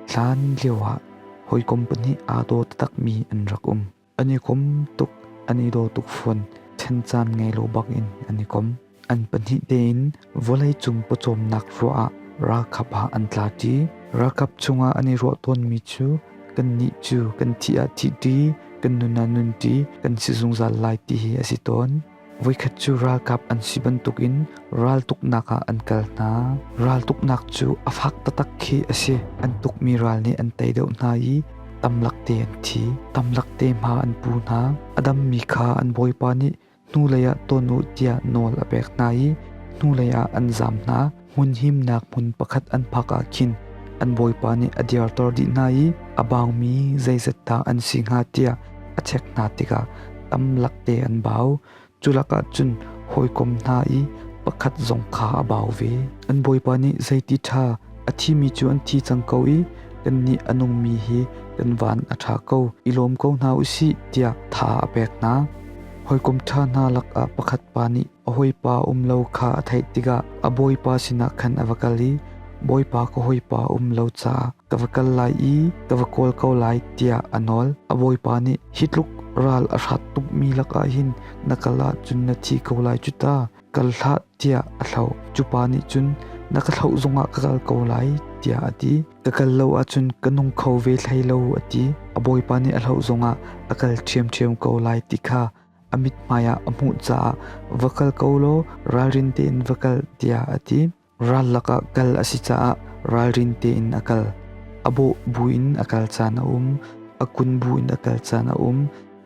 Hlan lioah hawikom pahnih aa daw taktakmi an rak um. An i kom tuk, an i daw tuk fawn. Thencan ngei lo bakin an i kom. An pahnih tein vawleicung pawcawmnak ruah ah ralkap ah an tla ṭi. Ralkap chungah an i ruah tawnmi cu kannih cu kan thih ah thih ṭi, kan nun ah nun ṭi, kan si zungzal lai ti hi a si tawn. Voikhat cu ralkap an si bantukin raltuknak ah an kal hna. Raltuknak cu a fak taktak khi a si. An tukmi ral nih an tei deuh hna i tamlak te an thi. Tamlak te hma an pu hna. A dammi kha an bawipa nih hnulei ah ton u tiah nawl a pek hna i hnulei ah an zam hna. hmun himnak hmun pakhat an phak ah khin an bawipa nih a dirter dih hna i a bangmi zeizat dah an si hnga tiah a chek hna tikah tam lakte an bau culakah cun hawikom hna i pakhat zong kha a bau ve an bawipa nih zeiti ṭha a thimi cu an thi cang ko i kannih a nungmi hi kan van a ṭha ko i lawm ko hna u sih tiah tha a pek hna hawikom ṭha hna lakah pakhat pa nih A hawipa um lo kha a theih tikah a bawipa sinah khan a va kal i, Bawipa ka hawipa um lo caah ka va kal lai i ka va kawl ko lai tiah a nawl. A bawipa nih hi tluk ral a hrat tukmi lakah hin na kal ahcun na thi ko lai cu ta, kal hlah tiah a thlauh. Cupa nih cun na ka thlauh zongah ka kal ko lai tiah a ti. Ka kal lo ahcun ka nung kho ve hlei lo a ti. A bawipa nih a hloh zongah a kal ṭhiamṭhiam ko lai ti kha a mithmai ah a hmuh caah va kal ko law ralrin tein va kal tiah a ti. Ral lakah kal a si caah ralrin tein a kal. A bawh buin a kal caan a um. A kun buin a kal caan a um.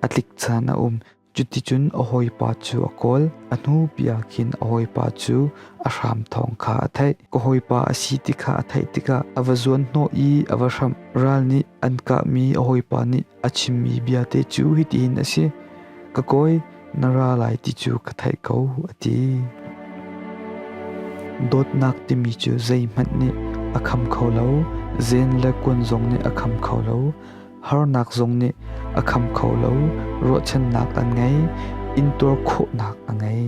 A tlik caan a um. Cuticun a hawipa cu a kawl. A hnu bia khin a hawipa cu a hram thawng kha a theih. Ka hawipa a si ti kha a theih tikah a va zuan hnawh i a va hramh. Ral nih an kahmi a hawipa nih A chimmi biate cu hitin a si: Ka kawi, na ra lai ti cu ka theih ko, a ti. Dawtnak timi cu zeihmanh nih a kham kho lo, zen le kuan zong nih a kham kho lo, harnak zong nih a kham kho lo, ruahchannak an ngei, intuar khawhnak a ngei.